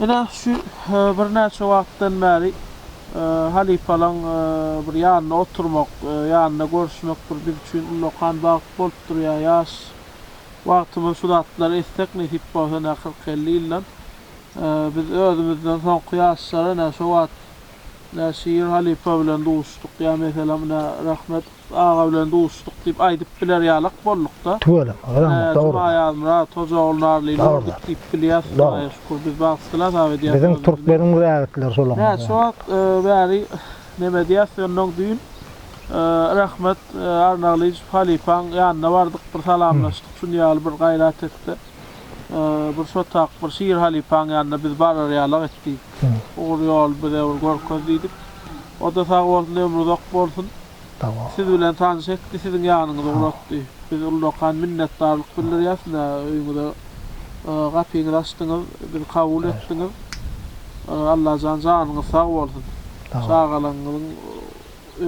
Ine şu e, birnäçe wagtdan bäri e, halypalaň e, bir ýanynda oturmak, ýanynda görüşmek bir biz üçin ullakan bagt bolup durýar. Ýaş wagtymyz şu zatlar etsek nesip bolsa, ine 40-50 ýyldan biz özümizden soňky ýaşlara ine şu wagt Ine Şir halypa bilen duşduk ýa meselem ine Rahmet aga bilen duşduk diýip aýdyp biler ýalak boldukda. Tüweleme Rahmet dogry. Ine Juma Ýazmyrat Hoja ogul Narlyly bolduk diýip bilýäs Hudaýa şükür biz bagtly hasap edýäs. Biziň türkmeniň raýatlar şolar. Näçe wagt bäri neme diýäs ýöne düýn Rahmet Arnaglyjow halypaň ýanyna bardyk bir salamlaşdyk şuny ýaly bir gaýrat etse bir şotak bir Şir halypaň ýanyna biz barar ýalak etdi. Ugur ýoly bize bir görkez diýdik. O-da sag bolsun, ömri uzak bolsun. Siz bilen tanyş etdi, siziň ýanyňyza ugratdy. Biz ullakan minnetdarlyk bildirýäs size. Öýüňize gapyňyzy açdyňyz, bizi kabul etdiňiz. Allajan janyňyz sag bolsun. Çagalaryňyzyň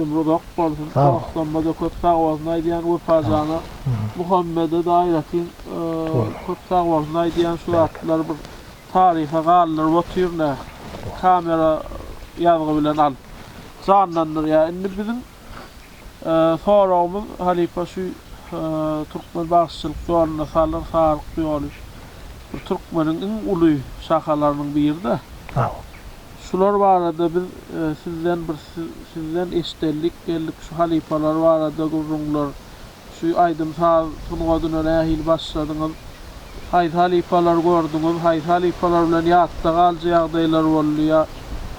ömri uzak bolsun. Dostlarymyza-da köp sag bolsun aýdýan. Wepa jana, Muhammede-de aýratyn köp sag bolsun aýdýan. Şu zatlar bir. Taryha galdyryp otyr da kamera ýazgy bilen alyp janlandyrýar. Indi biziň soragymyz halypa şu türkmen bagşyçylyk ýolunda Salyr Saryk ýoly bir türkmeniň iň uly şahalarynyň biri da. Şular barada biz sizden bir sizden eşdeldik geldik şu halypalar barada gürrüňler Şu aýdym-saz sungatyna nähili başladyňyz? Haýsy halypalary gördüňiz? Haýsy halypalar bilen ýatda galyjy ýagdaýlar boldy? Ýa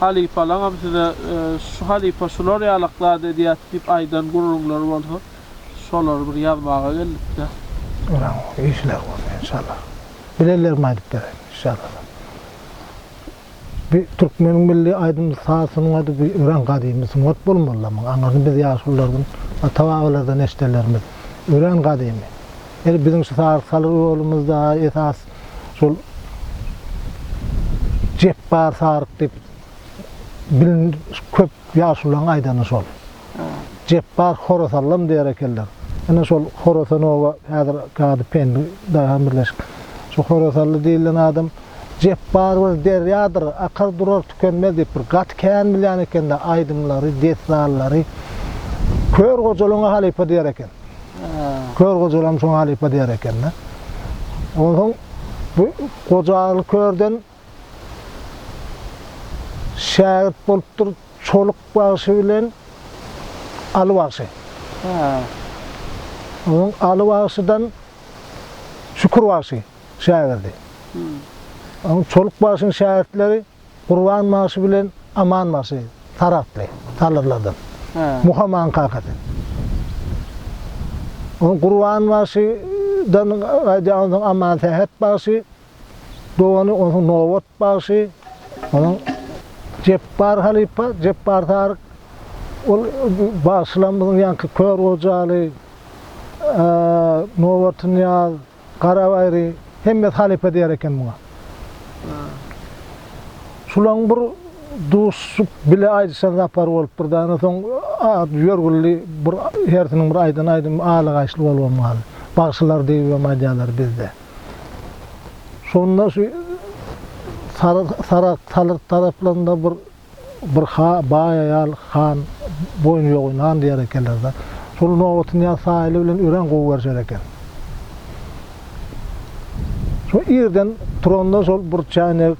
halypalaňam size şu halypa şular ýalak zat edýät diýip aýdan gürrüňler bolsa, şolary bir ýazmaga geldik-dä. Olaň işleri bolsun enşallah. Bilenlerime aýdyp bereýin, enşallah. Bu türkmeniň milli aýdymly saz sungady bu örän gadymy sungat bolmalydy muň aňyryny biz ýaşulylardan ata babalardan eşidenlerimiz örän gadymy ýeri biziň şu saz salyr ýolumyzda esas şol Jepbar saryk diýip bilin köp ýaşulylaň aýdany şol. Jepbar Horasanlym diýer ekenler. Ine şol Horasanowa häzir Gady Pendi daýhan birleşik. Şu Horasanly diýilen adam Jepbar bir derýadyr, akar durar tükenmez diýip bir gaty kän bilýän ekende aýdymlary, dessanlary. Kör Gojalyňa halypa diýer eken. Kör Gojalam şoňa halypa diýer ekende. Onsoň bu Gojaly körden Şägirt bolupdyr Çoluk bagşy bilen Aly bagşy. Onuň Aly bagşydan Şükür bagşy şägirdi. Onuň Çoluk bagşynyň şägirtleri Gurban bagşy bilen Aman bagşy, Saragtly, Salyrlardan. Muhamanyň kakasy. Onuň Gurban bagşydan gaýdýan Aman Sähet bagşy, dogany, onsoň Nobat bagşy, onuň Jepbar halypa, Jepbar Taryk, ol bagşylaň biziň ýaňky Kör Gojaly, Nobatnyýaz, Garabaýry, hemmesi halypa diýer eken muňa. Şulaň bir duşup bile aýdyşan zapary bolupdyr daýy, onsoň ýörgünli bir hersiniň bir aýdan aýdymy aýly-gaýşly bolubam galdy. Bagşylar diýibem aýdýarlar bizde. Şonda şu sary sarak salyrt taraplarynda bir bir ha baý aýal han boýny ýogy nan diýer ekenler-de. Şol nobaty Nyýaz Saýyly bilen örän gowy görüşer eken. Şo irden turanda şol bir çäýnek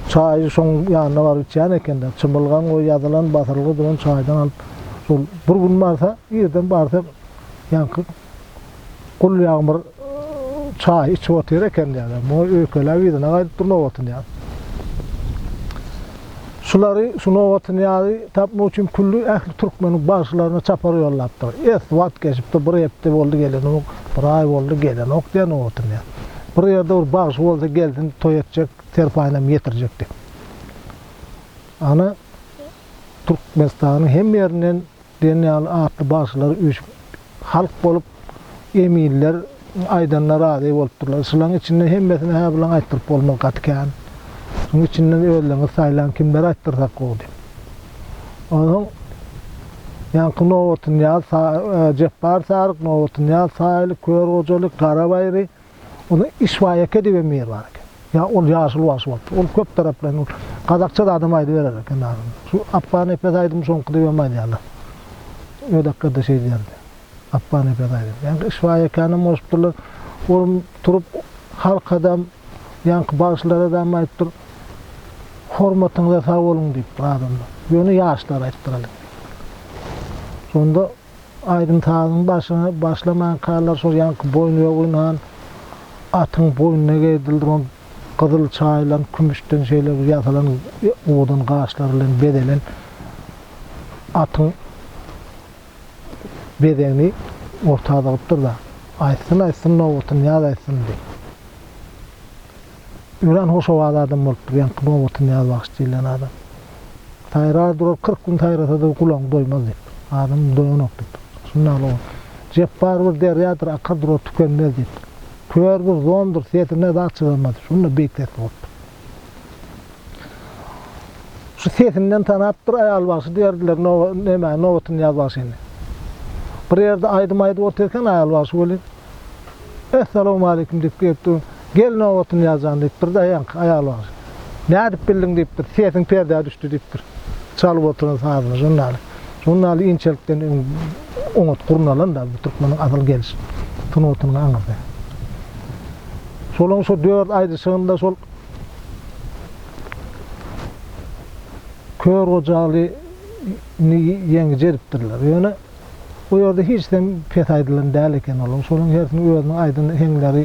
çaýy şoň ýanyna baryp içýän eken-de. Çymylgan we ýazylan batyrylgy bilen çaýdan alyp, şol bir gün barsa, irden barsa ýaňky Gul Ýagmyr çaý içip otyr eken diýýärler. Muňa öýkeläp yzyna gaýdyp dur Nobatnyýaz. Şulary, şu Nobatnyýazy tapmak üçin külli ähli türkmeniň bagşylaryna çapar ýollapdyr. Es wagt geçipdir, bir hepde boldy gelenok, bir aý boldy gelenok diýýär Nobatnyýaz. Bir ýerde bir bagşy bolsa gelsin toý etjek, serpaýynam ýetirjek diýip. Ana, Türkmenistanyň hemme ýerinden diýen ýaly atly bagşylar üýşüp, halk bolup, eminler aýdanyna razy bolupdyrlar. Şulaň içinde hemmesine hä bilen aýtdyryp bolmaz, gaty kän. Şuň içinden özleriňiz saýlaň, kimlere aýtdyrsak gowy diýip. Onsoň ýaňky Nobatnyýaz, Jepbar Saryk, Nobatnyýaz Saýyly, Kör Gojaly, Gara Baýry, Ony Işbaýeke diýen bir bar eken. Ýa ol ýaşuly bagşy bolupdyr. Ol köp taraplyny ol gazakça zadam aýdyberer eken adamlar. Şu Apba nepes aýdymy şoňky dibem aýdýarlar. Ödekgerde şeýdýärdi. Apba nepes aýdymy. Ýaňky Işbaýekänem goşupdyrlar. Ol turup halkadam, ýaňky bagşylaradam aýdypdyr. Hormatyňyza sag boluň diýipdir adamlar. Ýöne ýaşlar aýdypdyr älekde. Şonda. Aýdym-sazyň başyny başlamankalar şol ýaňky boýny ýoginhan atyň boýnuna geýdil duran gyzyl çaýylan kümüşden şeýle bir ýasalan owadan gaşlar bilen bezelen atyň bezegini orta zygypdyr-da, Aýtsyn, aýtsyn nobatyny ýaz aýtsyn diýip. Örän hoşowaz adam bolupdyr, ýaňky nobatyn Nyýazbagşy diýlen adam. Saýrar durar, kyrk gün saýrasa-da gulagyň doýmaz diýip. Adamym doýanok diýip. Şunda ol, Jepbar bir derýadyr, akar durar, tükenmez diýip. Kör bir zondur, sesine zat çyzamaz. Şunda beýik sesli bolupdyr. Şu sesinden tanapdyr, Aýalbagşy diýerdiler, no, näme, nobatyn Nyýazbagşyny. Bir ýerde aýdym aýdyp otyr eken Aýalbagşy weli, Essalawmaleýkim diýip girip dur. Gel nobatyny ýazan diýip birde ýaňky aýal bar. Nädip bildiň diýipdir. Sesiň perdä düşdi diýipdir. Çalyp oturan sazyna žurnaly. Žurnaly inçelikden öň oňat gurnalanda bu türkmeniň asyl geliş sungatynyň aňyrsy. Şolaň şo dört aýdyşygynda şol Kör Gojaly ni ýeňiji edipdirler. Ýöne Bu ýerde hiç zem pes aýdylan däl eken olaryň şolaryň hersiniň özüniň aýdan heňleri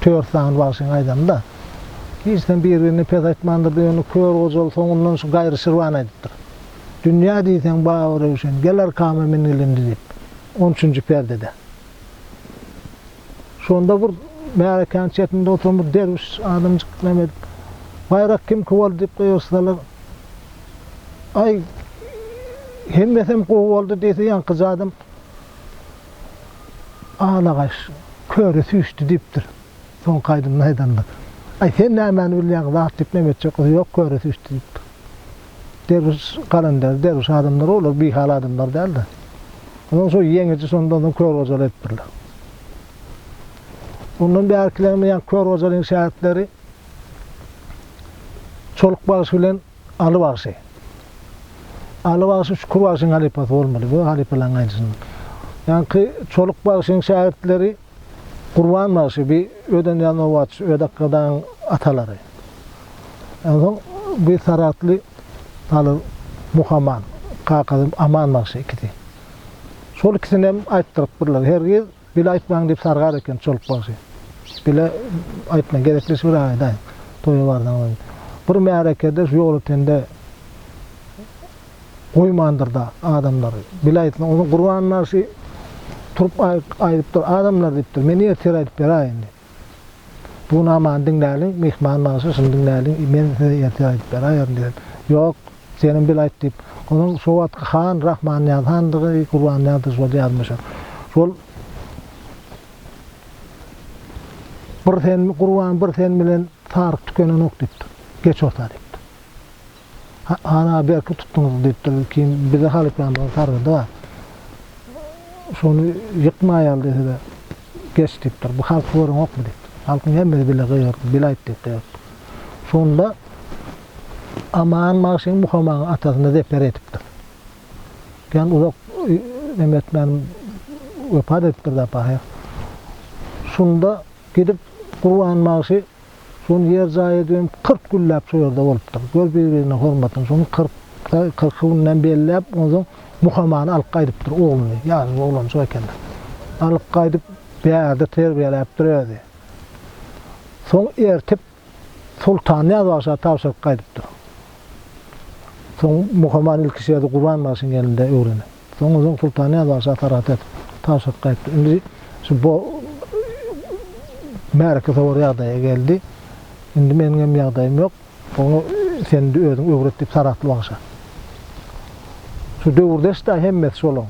tört sany bagşyň aýdany-da. Hiç zem bir-birine pes aýtmandyrdy ýöne Kör Gojaly soňundan şu Gaýry Şirwany aýdypdyr. Dünýä diýseň Baba Röwşen, gel arkama min ilindi diýip, on üçünji perdede. Şonda bir märekäniň çetinde oturan bir derwüş adamjyk näme edip, Baýrak kimki boldy diýip gygyrsalar, Aý, hemmesem gowy boldy diýse, ýaňkyja adam Alagaş, köre süýşdi diýipdir. Soňky aýdymyny aýdanda. Aý, sen nämäni bilýäň, zat diýip näme etjek bolsa, Ýok, köre süýşdi diýipdir. Derwüş galender, derwüş adamlar olar bihal adamlar däldi. Ondan şo ýeňiji şondan soň kör gojaly etdirler. Ondan bärkilerimiz ýa kör gojalyň şägirtleri Çoluk bagşy bilen Aly bagşy. Aly bagşy Şükür bagşyň halypasy bolmaly, bu halypalaryň gaýnysyndan. Ýaňky Çoluk bagşyň şägirtleri Gurban bagşy bi öden ýa nobatçy ödakga daň atalary. Onsoň bi saragtly halyz Muhaman kakasy Aman bagşy ikisi. Şol ikisinem aýtdyrypdyrlar. Her giz bile aýtmaň diýip sargar eken Çoluk bagşy. Bile aýtmaň gezekleşip bir aýdaýyň toýa barsaňyz. Bir märekede şu ýol ötende. goýmandyr-da adamlary. Bilaýtsyň, onuň Gurban bagşy turup aýdypdyr, Adamlar diýipdir, men ertir aýdyp beräýin diýip. Bu namany diňläliň, Myhman bagşy şuny diňläliň, men size ertir aýdyp beräýerin diýen. Ýok, senem bilaýt diýip. Onuň şo wagtky han Rahmannyýaz handygy, Gurbannyýazdygy şol ýazmyşam. Şol Bir sen, Gurban, bir sen bilen saryk tükenenok diýipdir. Geç orta diýipdir. Ana, berk tutduňyz, diýipdir. Kim bize halypanyň sargydy bar. Şony ýykmaýaly size geç, diýipdir. Bu halky göreňokmy, diýipdir. Halkyň hemmesi bile gygyrdy, bile aýt, diýip gygyrdypdyr. Şonda Aman bagşy Muhamagyň atasyna zeper edipdir. Jan uzak neme etmän wepat edipdir-de, pahyr. Şunda gidip Gurban bagşy. Şony ýer jaý edibem kyrk günläp şu ýerde bolupdyr. Gör bir-birine hormatyny. Şony kyrk, kyrky günden belläp, onsoň Muhamany alyp gaýdypdyr ogluny. Ýaşuly oglanjyk ekeni. Alyp gaýdyp, bärde terbiýeläpdir özi. Soň ertip Sultan Nyýaz bagşa tabşyryp gaýdypdyr. Soň Muhaman ilki şu ýerde Gurbanbagşyň elinde öwrenip. Soň özüň Sultannyýaz bagşa sargyt et. Tabşyryp gaýtdy. Indi şu bo märeke sowar ýagdaýa geldi. Indi meniňem ýagdaýym ýok. Oňa sen-de özüň öwret diýip Saragtly bagşa. Şu döwürdeş-dä hemmesi şolaň.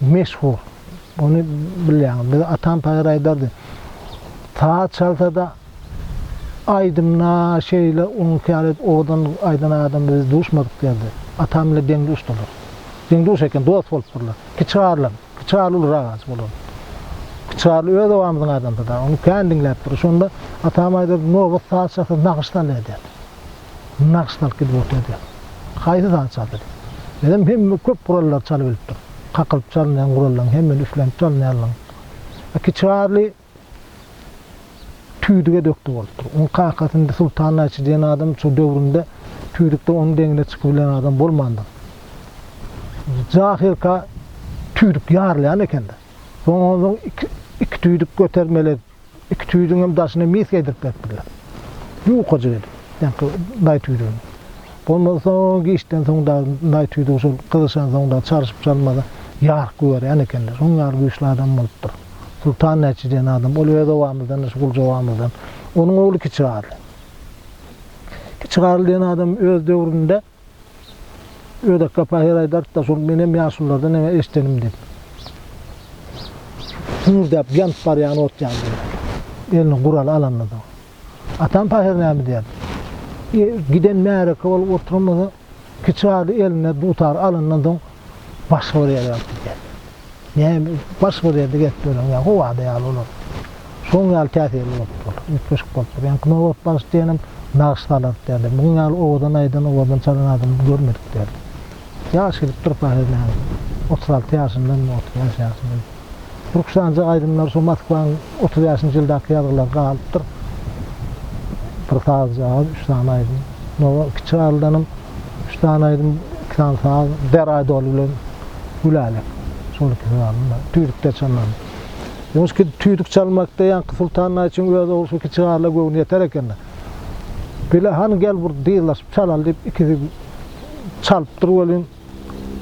Meşhur. Ony bilýäňiz. Bize atam paýhas aýdardy. Saz çalsa-da, aýdymda şeýle oňki ýaly owadan aýdan adam biz duşmadyk diýerdi. Atam bilen deň-duşdular. Deň-duş eken, dost bolupdyrlar. Kiçi Garlam. Kiçi Garly uly ragaç bolan. Kiçi Garly öz obamyzyň adamsy-da. Ony kän diňläpdiris. Şonda atam aýdardy, Nobat saz çalsa nagyş salýar diýerdi. Nagt salyp gidip otyr diýýär. Haýsy saz çal diýdim. Dedim, hemme köp gurallary çalyp bilipdir. Kakylyp çalynýan gurallaryň hemmesini üflenip çalynýanlaryň. A Kiçi Garly tüýdüge dökdi bolupdyr. Onuň kakasy indi Sultan naýçy diýen adam şo döwründe tüýdükde onuň deňine çykybilen adam bolmandyr. Jahylka tüýdük ýarylýan eken-de. Soň onsoň iki tüýdük götermeli. Iki tüýdüňem daşyna miska edip beripdirler. Ýukajyk edip, ýaňky naý tüýdügini. Bolmansoň, giçden soň dagy naý tüýdügi şol gyzyşansoň dagy çalşyp-çalmada ýark goýberýän ekenler. Şoň ýaly güýçli adam bolupdyr. Sultan näçe diýen adam, ol öz obamyzdan-da, şu Gulja obamyzdan. Onuň ogly Kiçigarly. Kiçigarly diýen adam öz döwründe Ödekgä pahyr aýdaryk-da, şol menem ýaşulylardan eňe eşdenim diýip. Hüňürdäp ýanyp barýan ot ýaly diýýärdi. Eline guraly alanda dagy. Atam pahyr näme diýerdi? Giden märeke bolup oturanymyzy Kiçi garry eline dutar alandan soň Başga bir ýere alyp gidýär. Näme, başga bir ýerde gezip ýören ýa gowada ýaly olar. Şoň ýaly täsirli bolupdyr olar, üýtgeşik bolupdyr. Ýaňky nobat bagşy diýenem nagyş salardy däldi. Munuň ýaly owadan aýdan, owadan çalan adamy görmedik däldi. Ýaş gelip durka, hernä, otuz alty ýaşyndamy, otuz bäş ýaşyndamy. Rukşanja aýdymlar şo Moskwanyň otuz bäşinji ýyldaky ýazgylary galypdyr. Bir sazjagaz, üç sany aýdym. Nowa Kiçi Garlydanam üç sany aýdym, iki sany saz, Deraý doly bilen Gülälek. Şol ikisi galdy-da. Tüýdükde çalnan. Ýumuş gidip tüýdük çalmakda ýaňky Sultan naý üçin öz ogly şu Kiçi Garla göwni ýeter eken-de. Bile, hany gel bir dyzlaşyp çalaly diýip ikisi çalypdyr welin,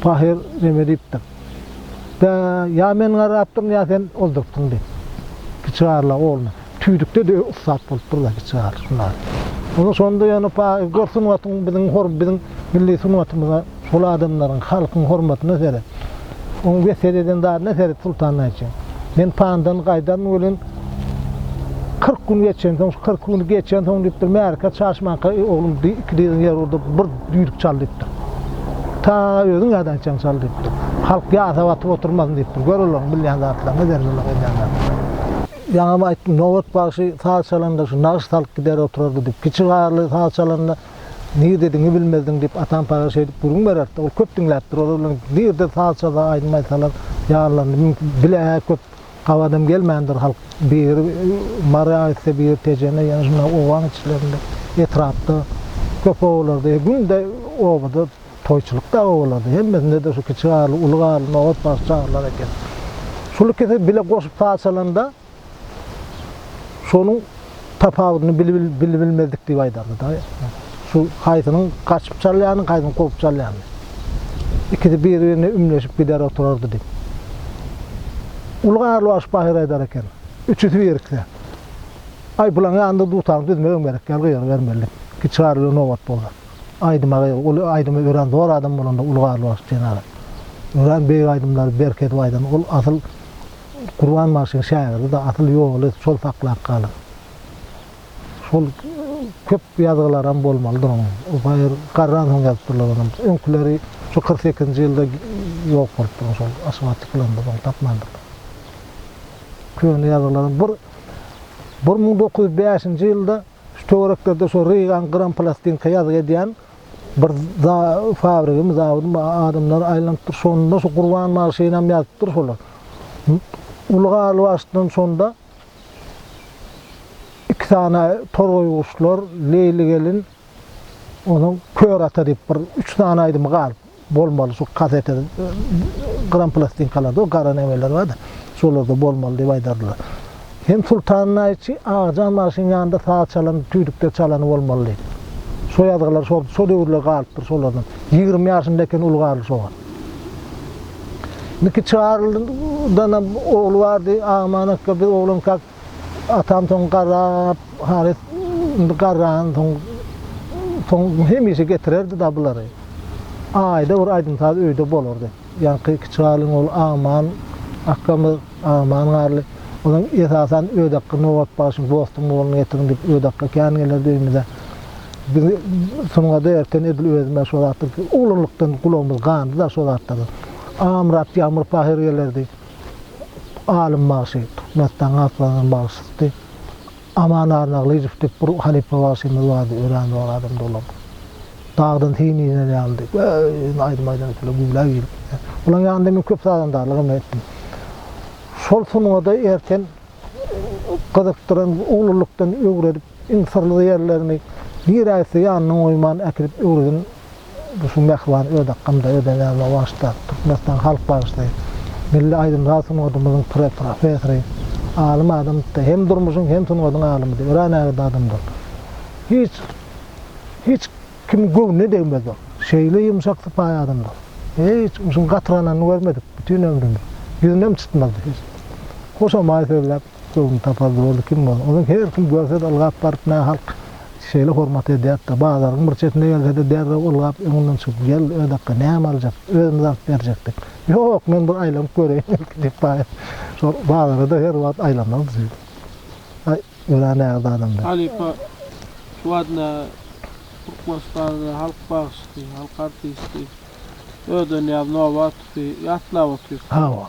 Pahyr neme diýipdir? Bä, ýa men garapdyryn, ýa sen oldurupsyň diýip. Kiçi garla ogluna, Tüýdükde-de ussat bolupdyr-da kiçi gar şunda. Ony şonda ýöne Pahyr gör sungatyň biziň hor biziň milli sungatymyza, şol adamlaryň, halkyň hormatyna seret. Oň wesýet eden zadyna seret Sultan naýçy. Men pandan gaýdaryn welin, kyrk gün geçensoň, şu kyrk güni geçensoň diýipdir, märekä çaşmanka, oglum iki dyzyň ýeri urdup, bir. Düýdük çal diýipdir. Ta özüň ýadan içeň çal diýipdir. Halk ýasap atyp oturmasyn diýipdir. Gör olaryň bilýän zatlaryny, zerreleme edýän zatlaryny. Ýaňam aýtdym, Nobat bagşy saz çalanda şu nagyş salyp gider oturardy diýip. Kiçi Garly saz çalanda nirde diňi bilmezdiň diýip Atan paýga şeýdip gürrüň bererdi. Ol köp diňläpdir. Olar bilen nirde saz çalsa, aýdym aýtsalar ýanlarynda mümkin bile-ä köp Gabadam gelmändir halk bir mary aýtsa bir tejene ýene şunda obaň içlerinde etrapda köp obalarda e günde obada toýçulykda obalarda hemmesinde-de şu kiçi garly uly garly nobat bagşy çagyrylar eken. Şul ikisi bile goşup paçalanda şonuň tapawudyny bilip-bilmezdik diýip aýdardy-da. Şu haýsynyň gaçyp çalýanyny, haýsynyň kowup çalýanyny. Ikisi bir-birine ümleşip gider oturardy diýip. Uly Garlybaş pahyr aýdar eken, Üçüsi birikse, Aý, pylan ýanynda dutaň düzmegem gerek däl, gygyrybermeli diýip. Kiçi Garly nobat boldy. Aýdyma gygy, ol aýdymy örän zor adam bolanda Uly Garlybaş jenap. Örän beýik aýdymlary berk edip aýdan, ol asyl Gurban bagşyň şägirdi-de asyl ýoly şol saklap galan. Şol köp ýazgylaram bolmalydyr onuň. O baýyr garransoň ýazypdyrlar onam. Öňküleri şu kyrk sekizinji ýylda ýok bolupdyr oň şol aşyga çykylanda ony tapmandyrlar. Köne ýazgylaram bir bir müň dokuz ýüz bäşinji ýylda şu töwereklerde şu Rygan gyran plastinka ýazgy edýän Bir fabrigimi, zawodym adamlar aýlanypdyr, şonda şu Gurban magşynam ýazypdyr şolar. Uly galyp açdan şonda iki sany torgaýguşlar, Leýli gelin, onsoň Kör ata diýip bir üç sany aýdymy galyp. bolmaly şu kasete gyran plastinkalarda o gara nämeler bardy şolarda bolmaly diýip aýdardylar hem sultanyň naýçy agajan bagşynyň ýanynda saz çalan tüýdükde çalany bolmaly diýip şo ýazgylar şol şo döwürler galypdyr şolardan ýigrimi ýaşynda eken uly garly şo wagt indiki çygaryldanam ogly bardy aman akga biz oglankak Atam soň garrap, halys indi garran soň, soň hemişe getirerdi da bulary. Aýda bir aýdym-saz öýde bolardy. Ýaňky kiçi halyň ogly Aman akgamyz, Aman Garly. Olam esasan Ödakga Nobat bagşyň Dostum ogluny getiriň diýip Ödakga kän gelerdi öýümize. Bizi sungada erten edil özüm-ä şo zatlar, oglanlykdan gulagymyz gandy-da şo zatlara. Amyrat Ýagmyr pahyr gelerdi. alym bagşy, Türkmenistan Galkynyşynyň bagşysy Aman Arnaglyjow diýip bir halypa bagşymyz bardy, örän zor adamdy olam. Dagdan syn iner ýalydy. Göýnüň aýdym aýdanda şeýle güwläp girip gitýär. Olaň ýanynda men köp sazandarlyk hem etdim. Şol sungada erten gyzykdyran, uglulykdan öwredip, iň syrly ýerlerini nirä gitse ýanyndan goýman äkidip öwreden şu mähriban ödakgymda özenäme bagyşlap, Türkmenistanyň halk bagşysy, milli aýdym-saz sungatymyzyň pre-professory, alym adamdyr-da, hem durmuşyň, hem sungatyň alymydy, örän ägirt adamdyr. Hiç, hiç kimiň göwnüne degmezdi. Şeýle ýumşak sypaýy adamdyr. Hiç uşuň gatyranyny görmedik bütin ömrümiz. Ýüzünem çytmazdy hiç. Hoşamaý sözläp. Göwnüni tapar zordy kim bolsa. Onuň her kim görse-de ylgap baryp nä halk şeýle hormat edýärdi-de, bazaryň bir çetine gelse-de derrew ylgap öňünden çykyp, gel, ödakga, näme aljak, özümiz alyp berjekdik. Ýok, men bir aýlanyp göreýin belki diýip baýat şol bazara-da her wagt aýlanardy şeýdip. Aý, örän näzik adamdy. Halypa şu wagtda Türkmenistanda halk bagşysy, halk artisti Ödenýaz Nobatovy ýatlap otyr. Hawa.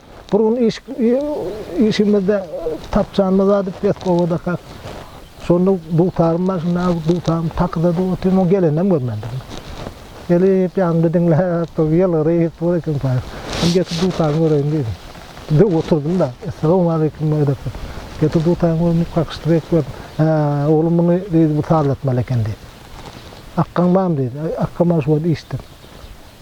Bir gün iş işimizde tapjanymyz bar diýip Betkowodakak. Şonda dutarym bar, şunda dutarym takyzada otyr, muny geleninem görmändirin. Gelip ýanymda diňläp dur, ýylgyryp dur ekenpaý. Indi getir dutarymy göreýin diýdim. Döw oturdym-da, Essalawmaleýkim edip, getir dutarymy göreýin diýip kakyşdyr edip gördüm. Hä, oglum muny diýdi, bu sazlatmaly eken diýdi. Akgaň barmy diýdi. Akgam bar şu wagt işde.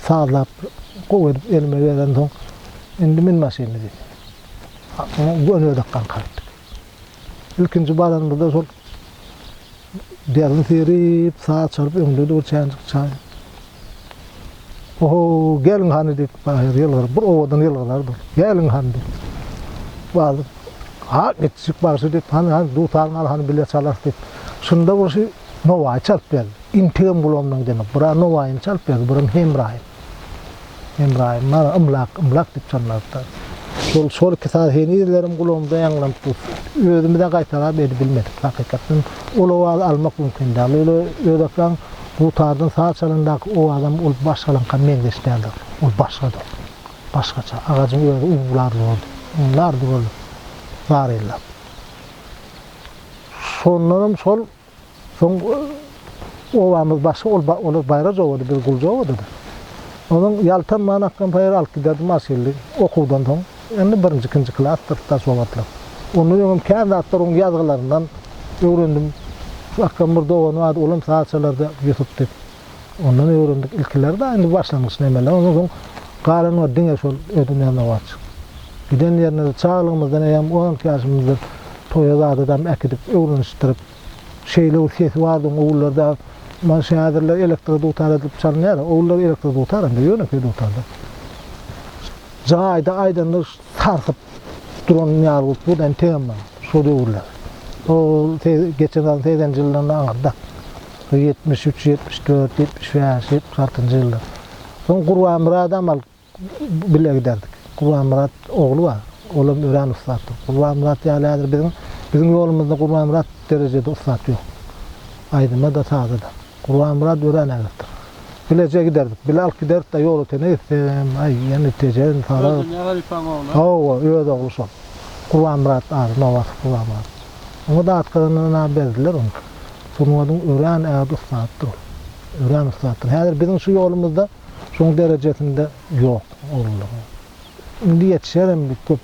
Sazlap, gowy edip elime berensoň, Indi min maşyny diýip, gönezek ganka gitdik. Ilkinji baranymyzda şol derni serip, saz çalyp, öňde dur çänjik çaý. Oho, geliň hany diýip, baýyr ýylgyryp, bir owadan ýylgyrardy ol. Geliň hany diýip. Wagzy, Ha, gitjik bagşy diýip, hany, hany, dutar galy, hany bile çalarys diýip. Şunda bir şi Nowaýy çalyp berdi. Integem gulamlaň demek. Bura Nowaýyny çalyp berdi, buram Hemraýym. Hemraýym mana Ymlak, Ymlak diýip çalmalypdyr. Şol, şol iki saz henizlerem gulamda ýaňlanyp dur. Özümiz-ä gaýtalap edibilmedik, hakykatdan. Ol owazy almak mümkin däl. Öýle öýdäpläň, dutardan saz çalandaky owazam ol başgalaňka meňzeş däldir. Ol başgadyr. Başgaça. Agajyň özi uwwlar zordy. Uwwlardy ol zar ýyllap. Şondanam şol. Soň obamyz başga ol olar Baýraz obady biz Gulja obadada. Onuň ýaltan many akgam paýar alyp giderdi maşynly okuwdan soň. Indi birinji ikinji klasdyr daş obatlar. Ondan öňem kän zatlar onuň ýazgylaryndan öwrendim. Şu akgamyň bir dogany bardy olam saz çalardy Ýusup diýip. Ondan öwrendik ilkiler-de indi başlangyç nemeler ondan soň galanlar diňe şol ödünýän owaçjyk. Giden ýerine-de çaglygymyzdan eýýäm on iki ýaşymyzda toýa zat edäm äkidip öwrenişdirip şeýle bir sesi bardy owullarda muny şu häzirler elektr dutar edilip çalynýar owullar elektr dutar indi ýönekeý dutarda jaýda aýdanda sarsyp duran ýargut bu dan tema şo döwürler. Ol geçen ýyl segsenji ýyllarynda aňyrda. Ýetmiş üç, ýetmiş dört, ýetmiş bäş, ýetmiş altynjy ýyllar. Soň Gurbanmyrat amal bile giderdik. Gurbanmyrat ogly bar. Olam örän ussatdyr. Gurbanmyrat ýaly häzir biziň biziň ýolumyzda Gurbanmyrat derejede ussat ýok. Aýdyma-da, saza-da. Gurbanmyrat örän ägirtdir. Bileje giderdik. Bile alyp giderdik-de ýola çenli gitsem, aý, ýene Tejen, Saragt. Özüniň halypaň ogly? Hawa, öz ogly şol. Gurbanmyrat ady, Nowasyp Gurbanmyrat. Oňa datgyryndan-a berdiler ony. Sungatyň örän ägirt ussadydyr ol. Örän ussadydyr. Häzir biziň şu ýolumyzda şoň derejesinde ýok oglularyň. Indi ýetişerem diýip köp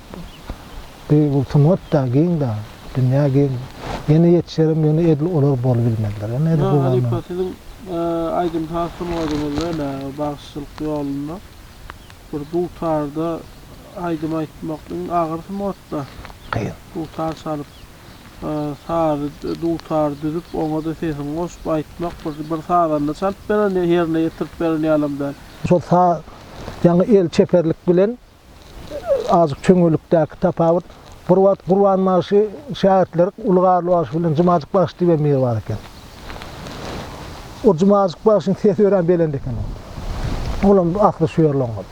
bir bu sungat da giň da, dünýä giň. Ýene ýetişerem ýöne edil olar bolubilmezler. Ýöne edil bu Halypa bana. siziň aýdym-saz sungatyňyzda ene bagşylyk ýolunda bir dutarda aýdym aýtmak iň agyr sungat-da. Kyn. Dutar çalyp sazy dutary düzüp oňa-da sesiňi goşup aýtmak bir bir sazanda çalyp beren ýerine ýetirip beren ýalam däl. Şol sa ýaňy el çeperlik bilen azjyk çöňelikdäki tapawut. Bir wagt Gurban bagşy şägirtleri Uly Garly bagşy bilen Jumajyk bagşy diýibem biri bar eken. O Jumajyk bagşyň sesi örän belent eken ol. Olam ahli şu ýerli oňat.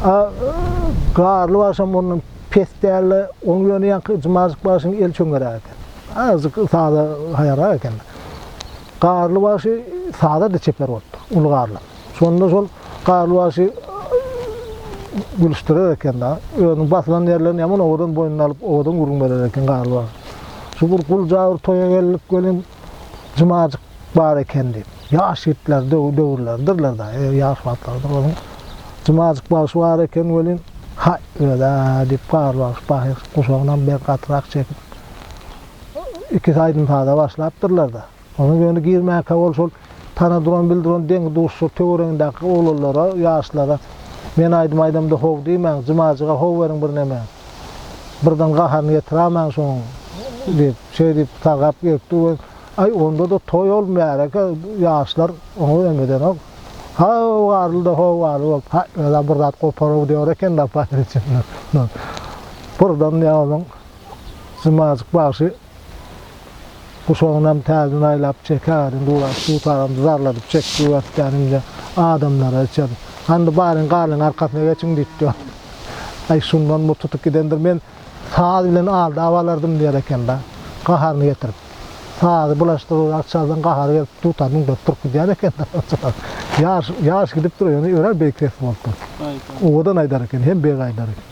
A Garly bagşam ondan pes däldi. Oň ýöne ýaňky Jumajyk bagşynyň el çöňeräk eken. Azjyk saza haýarrak eken. Garly bagşy saza-da çeper bolupdyr, Uly Garly. Şonda şol Garly bagşy gülüşdirer eken dagy. Özüniň basylan ýerlerini ýaman owadan boýnuna alyp, owadan gürrüň berer eken Garly bagşy. Şu bir gulja bir toýa geldik welin, Jumajyk bar eken diýip. Ýaş ýigitler, döwürleridirler dagy, e, ýaş wagtlarydyr onuň. Jumajyk bagşy bar eken welin, Haý, öz-ä, diýip, Garly bagşy pahyr guşagynam bir gatyrak çekip. ikisi aýdym-saza başlapdyrlar-da, onuň ýöne girmäkä ol şol tanadyran-bildiran deň-duşlar töweregindäki oglanlara, ýaşlara, Men aýdym aýdamda how diýmäň, Jumajyga how beriň birneme. Birden gaharyny ýetiräýmäň şonuň, diýip, şeý diýip sargap gelip dur we Aý, onda-da toý ol, märeke, ýaşlar oňa ümedenok. How garyl-da, how garyl bolup, Haý, özem bir zat gopar-ow diýer eken-dä, Paýryç, ynha, ynha. Birden ýa onuň. Zymajyk bagşy guşagynam täzeden aýlap çek agadan guraş tut agam zarladyp çek bu wesdäni indi adamlara içer hany baryň galyň arkasyna geçiň diýipdi aý şundan bu tutup gidendir men saz bilen alda abalardym diýer ekenda gaharyny getirip sazy bulaşdyryrak çalsaň gahary gelip dutar müňdürip turup gidýär ekenda ýaş ýaş gidipdir ýöne örer beýik ses bolupdyr owadan aýdar eken hem beg aýdar eken.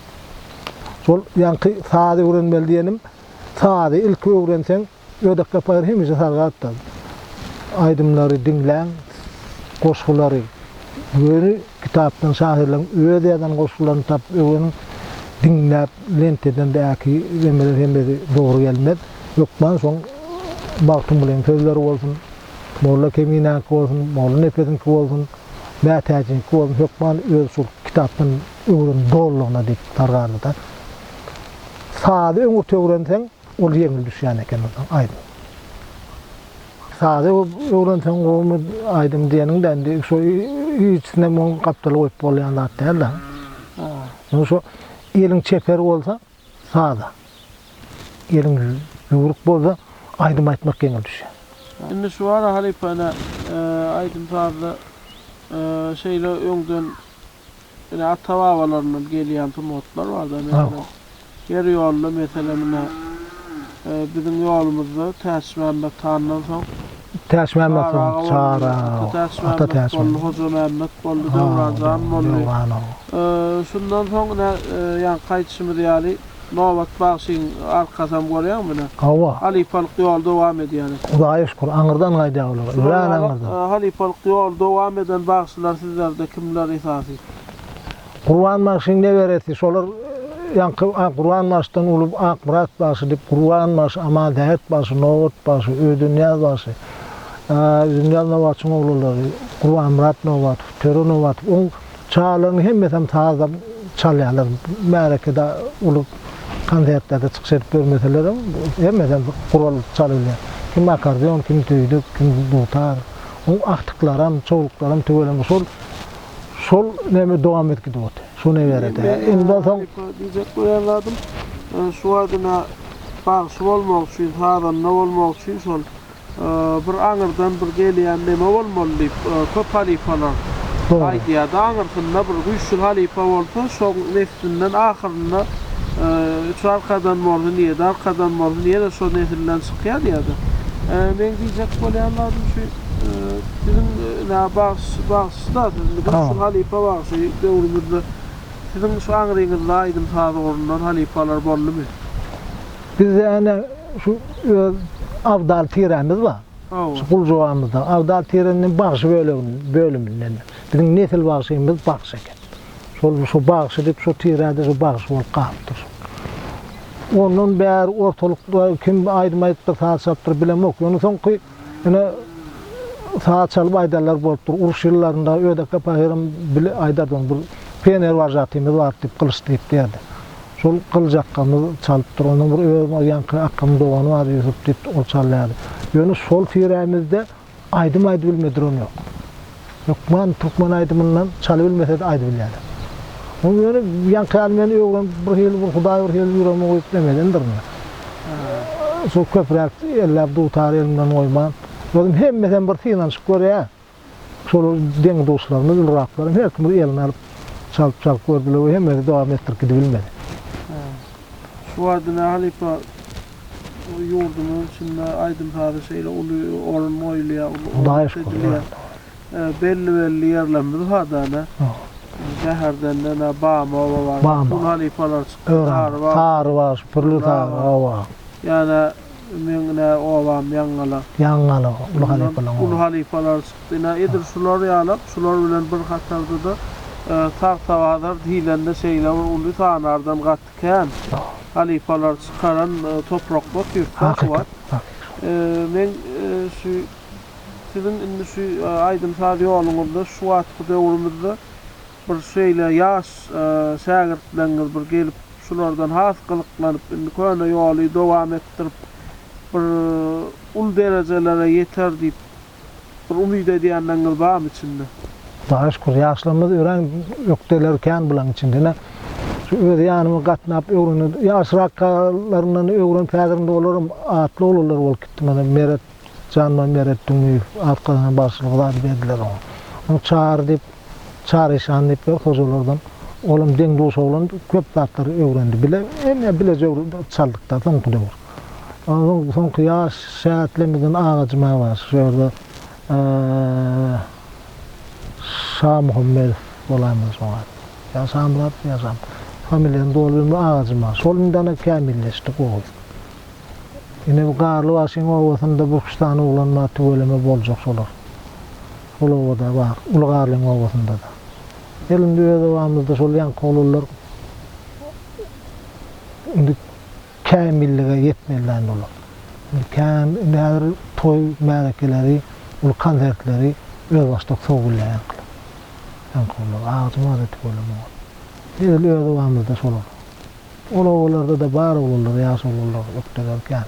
Şol ýaňky sazy öwrenmeli diýenim, sazy ilki öwrenseň, Ödek Sapaýew hemişe salgy atda aýdymlary diňläň, goşgulary göni kitapdan şahyrlaryň öz ýazan goşgularyny tapyp öwreniň, diňläp lenteden däki emeler hemmesi dogry gelmez. Hökman şoň Magtymgulynyň sözleri bolsun, Molla Keminäňki bolsun, Molla Nepesiňki bolsun, Mätäjiňki bolsun, hökman öz şol kitapdan öwren dolylygyna diýip dargardy-da. Sazy öňürti öwrenseň, ol ýeňil düşýän eken onsoň aýdym. Sazy öwrenseň gowumy aýdym diýeniň-de indi şo iýiçisinem oň gapdaly goýup bolýan zat däl-de. Indi şo eliň çeper bolsa saza, eliň ýüwrük bolsa aýdym aýtmak ýeňil düşýär. Indi şu wara halypa ine aýdym-sazda şeýle öňden Ine ata babalaryndan gelýän sungatlar bar da meselem ýer ýolunda meselem ine biziň ýolumyzda Täçmämmet handan soň Täçmämmet boldy Çary Ata Täçmämmet Hojamämmet boldy Döwranjan boldy şundan soň ine ýaňky aýdyşymyz ýaly Nobat bagşyň arkasam görýäňmi ine. Hawa. Halypalyk ýoly dowam edýär eken. Hudaýa şükür aňyrdan gaýdýar olar. Örän aňyrdan. Halypalyk ýoly dowam eden bagşylar sizlerde kimler esasy? Gurban bagşyň neberesi şolar ýaňky Gurban bagşydan uly Akmyrat bagşy diýip Gurban bagşy Amansähet bagşy Nobat bagşy Öýdünýaz bagşy Öýdünýaz Nobatçyň oglulary Gurbanmyrat Nobatow Töre Nobatow oň Çagalaryn hemmesem sazam çalýarlar. Märekede uly konsertlerde çykyş edip görmeselerem, hemmesem gural çalylýar. Kim akardion, kim düýdük, kim dutar. Oň agtyklaram, çowluklaram tüweleme şol şol neme dowam edip gidip otyr. Şu neberede. Indi soň diýjek bolýan zadym, şu aýdyma bagşy bolmak üçin, sazanda bolmak üçin şol. Bir aňyrdan bir gelýän neme bolmaly diýip, köp halypalar aýdýardy. Aňyrsynda bir güýçli halypa bolsa, şoň neslinden ahyrynda üç arkadan bolsun, ýedi arkadan bolsun, ýene şo nesilden çykýar diýýärdi. Meň diýjek bolýan zadym şu, biziň ine bagş, bagşy-da siz indi güýçli halypa bagşy döwrümizde siziň şu aňryňyzda aýdym-saz ugrundan halypalar boldumy? Bizde ene şu öz Abdal tiremiz bar. Hawa. Şu Guljugabamyzda Abdal tireniň bagşy bölegi bölüminden. Biziň nesil bagşymyz bagşy eken. Şol şu bagşy diýip şu tirede şu bagşy bolup galypdyr. Ondan bäri ortalykda kim aýdym aýdypdyr, saz çalypdyr bilemok. Ýöne soňky Ine, saňa çalyp aýdanlar bolup dur. Uruş ýyllarynda Ödeke pahyram bile aýdardy ony. Bir Pener warjatymyz bar diýip, Gylyç diýip diýerdi. Şol Gylyç akgamyz çalyp dur. Onuň bir öz ýaňky akgamyň dogany bar Ýusup diýip, ol çalýardy. Ýöne şol tirämizde aýdym aýdybilme duran ýok. Hökman türkmen aýdymyndan çal bilmesede aýdy bilýäler. Ony ýöne ýaňky ýaly men öwrenip bir hili bir hudaý bir hili ýüregime guýup demedendirin men. Şo köpräk elläp dutary elimden goýman. Özüm hemmesem bir synanyşyp görýär. Şolar deň duşlarymyz uluraklarym her kim bir eline alyp çalyp çalyp gördüler we hemmesi dowam etdirip gidibilmedi. Şu barada Mähir halypa Ýurdumyzyň içinde aýdym-saza şeýle uly orun goýulýar, uly hormat edilýär. Belli-belli ýerlerimiz bar däl-ä. Bäherdenden Bamy oba bar. Uly halypalar çykdy. Sarybaş, Pürli Sary oba. Ýa-da meň ine obam Ýaňgalak. Ýaňgalak uly halypalar oba. Uly halypalar çykdy. Ine, edil şular ýalak, şular bilen bir hatarda-da Tagtabazar diýlende şeýle bir uly sanardan gat. Kän halypalar çykaran topraklar türkmen kuwat. Men şu siziň indi şu aýdym saz ýoluňyzda şu wagtky döwrümizde bir şeýle ýaş şägirtleriňiz bir gelip şulardan has gyzyklanyp indi köne ýoly dowam etdirip bir uly derejelere ýeter diýip Bir umyt edýänleriňiz barmy içinde? Hudaýa şükür, ýaşlarymyz örän ökdeler kän bularyň içinde. Ine, şu öz ýanyma gatnap öwrenen, ýaşraklaryndan öwrenip, häzir indi olaram atly oglanlar bolup gitdi. Mana, Meret, Janman Meret Düňýew, Arkadagdan bagşylyk zady berdiler oňa. Ony Çary diýip. Çaryşan diýip bir hojalardan. Olam deň-duş oglan, köp zatlary öwrendi. Bile, hemme bileje çaldyk-da soňky döwür. Onsoň soňky ýaş şähetlemizden Agajyma bar, şu ýerde Şamuhammedow bolandyr şoňa. Ýa Şamyratmy, ýa Şam. Familiýany doly bilmän, Agajym bar. Şol indi ana kämilleşdi, gowy. Ine bu Garlybaşyň obasynda bir-üç sany oglan bar, tüweleme boljak şolar. Ol obada bar. Uly Garlyň obasynda-da. Gel indi öz obamyzda şol ýaňky oglanlar indi kämillige ýetmeliler indi olar. Indi kän, indi häzir toý märekeleri, uly konsertleri özbaşdak sowulýar ýaňkylar. Ýaňky oglanlar agajyň ady tüweleme ol. Edil öz obamyzda şolar. Ol obalarda-da bar oglanlar, ýaş oglanlar ökde-gör kän.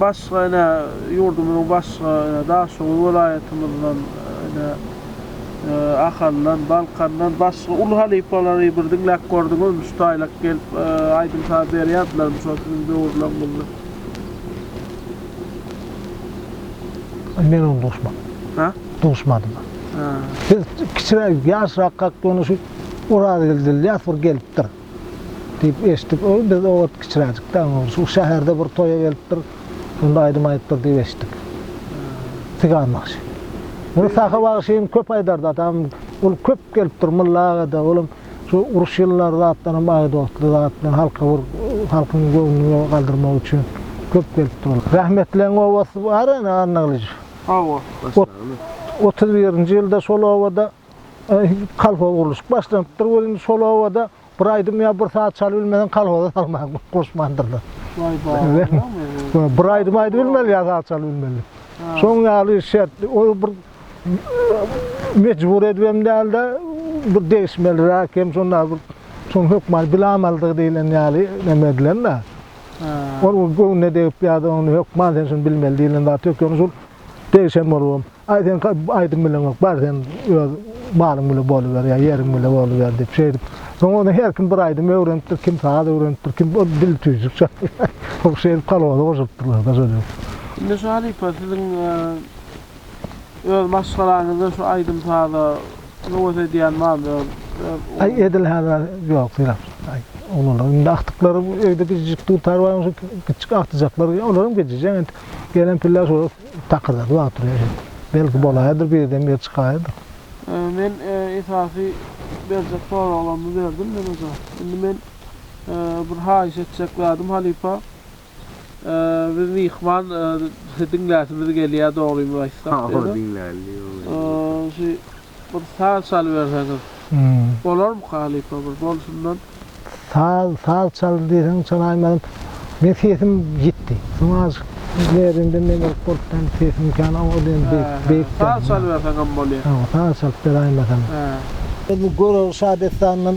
Başga ine ýurdumyzyň başga ine Daşoguz welaýatymyzdan ine Ahaldan, Balkandan başga uly halypalary bir diňläp gördüňizmi şu taýlak gelip aýdym saz berýärdilermi şol siziň döwürleriňizde? Men oňa duşman. Hä? Duşmanym. Hä. Biz kiçiräk ýaşrakak ýöne şu Orazgeldi Ylýas bir gelipdir. Diýip eşitdik. Ol biz o wagt kiçiräjikdi, aňyrmyş. Ol şäherde bir toýa gelipdir. Şonda aýdym aýdypdyr diýip eşitdik. Tygan bagşy. Muny Sahy bagşy hem köp aýdardy. Atam ol köp gelipdir Mulla aga-da. Olam şu uruş ýyllary zatdanam agy dostly zat bilen halka bir halkyň göwnüni galdyrmak üçin köp gelipdir ol. Rahmetliň obasy bar-a ene Annagylyjow. Hawa. Otuz birinji ýylda şol obada Kolhoz gurluşyk başlanypdyr welin, şol obada bir aýdym ýa bir saz çaly bilmeseň kolhoza salman, goşmandyrlar. Bir aýdym aýdy bilmeli ýa saz çaly bilmeli. Şoň ýaly şert, ol bir mejbur edip hem däl-de, bir degişmeliräk hem şonda bir şoň hökman bilamalydygy diýlen ýaly neme edilen-de. Ol göwnüne degip ýa-da ony hökman sen şuny bilmeli diýlen zat ýok. Ýöne şol Degişen bolubam, Aý, sen aýdym bileňok, bar sen öz malyň bile boluber ýa ýeriň bile boluber diýip, şeýdip. Soň ony her kim bir aýdym öwrenipdir, kim saz öwrenipdir, kim bir dil tüýjük çalypdyr. Şeýdip kolhoza goşulypdyrlar-da şol ýerde. Indi şu halypa siziň öz maşgalaňyzda şu aýdym-saza höwes edýän barmy? Öz. Aý, edil häzir ýok, syrap. Aý, oglanlaryň indi agtyklary öýde gijijik dutar, bar bolsa kiçijik agtyjaklar, olaram gijije entek. Gelen piller şol takyrdady wagt durýar şeýdip. Belki bolaýadyr birden bir çykaýadyr. Men esasy berjek soraglarymy berdim men oja. Indi men bir haýyş etjek zadym halypa biz myhman diňläsimiz gelýär dogrymy aýtsam. Hawa diňläli ýoly. Şu Bir saz çalyberseňiz bolarmy halypa bir bolşundan. Saz saz çal diýseň çalaýmaryn. Meň sesim ýitdi. Soň azajyk nerwinden meňzelik bolupdam sesim kän o diýen beýik Saz çalyberseňem bolýa. Saz çalyp beraýmasaň. Biz bu Görogly şadessanyndan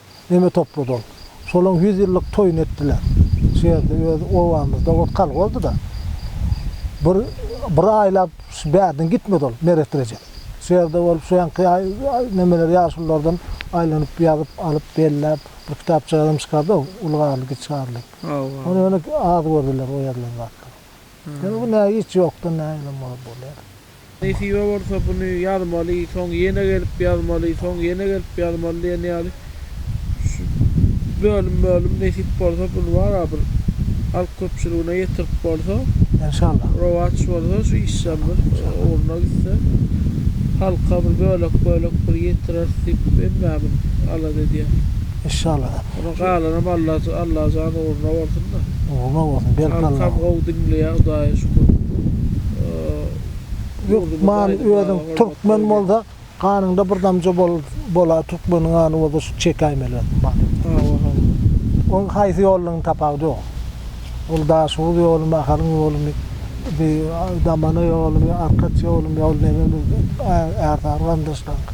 Neme toplady ol? Şolaň ýüz ýyllyk toýuny etdiler. Şu ýerde öz obamyzda ol kal boldy-da. Bir bir aýlap şu bärden gitmedi ol Meret Rejep. Şu ýerde bolup şu ýanky nemeler ýaşululardan aýlanyp ýazyp alyp belläp bir kitapjagazam çykardy-ow Uly Garly, Kiçi Garly. Ony ýöne az gördüler o ýazylan zatlary. Ýöne bu näge hiç ýokdan näme bar bolýar. Nesibe bolsa buny ýazmaly, soň ýene gelip ýazmaly, soň ýene gelip ýazmaly diýen ýaly şu bölüm-bölüm nesip bolsa buny bar-a bir halk köpçüligine ýetirip bolsa, Enşallah. rowaç bolsa şu işem bir ugruna gitse, halka bir bölek-bölek bir ýetireris diýip hemmämiz alada edýäris. Enşallah. Onuň galanam Alla Allajan ugruna bolsunda. Ugruna bolsun berk Alla. Halkam gowy diňleýä hudaýa şükür. Lukman özüň türkmen bolsa ganyňda bir damja bola türkmeniň gany bolsa şu çekäýmeli özüň many. Hawa hawa. Oň haýsy ýollyň tapawudy ýok. Ol daşoguz ýolumy ahalyň ýolumy bi damana ýolumy arkaç ýolumy ol neme ärsary gandaşlaryňky.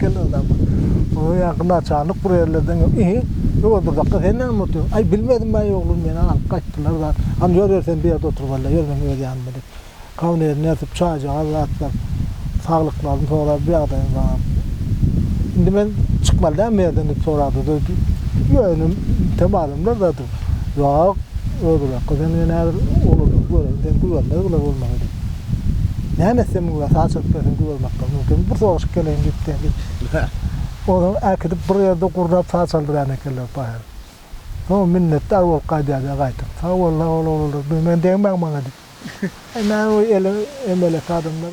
gel adam. Oňa ýa gylaçarlyk bir ýerlerden gel. Ehe, ýol durdakda sen näme otyryň? Aý, bilmedim baý oglum, meni alyp gaýtdylar zat. Hany ýör ýör sen bu ýerde otur walla, ýör meniň öz ýanyma diýip. Kawnerini ýazyp, çaýjagaz zat berip, saglyklaryny sorap, ýagdaýyny soran. Indi men çykmaly dälmi bu ýerden diýip sorady-da, ýöne bitem adamlar zat. Ýok, özi bolka sen diýen häzir uludyň, göreýin seni gübermez bile bolmagy diýip. Näme etsem güber, saga çykyp gelsem gübermekden mümkinmi, bir soraşyp geleýin gitse diýip. Ozal äkidip bir ýerde gurnap saga çaldyrýan ekenler paýhas. Soň minnetdar bolup gaýdýardy gaýtam. Sag boluň, sag boluň oglanlar, men degmäň maňa diýip. Näme bu eli emelek adamlar.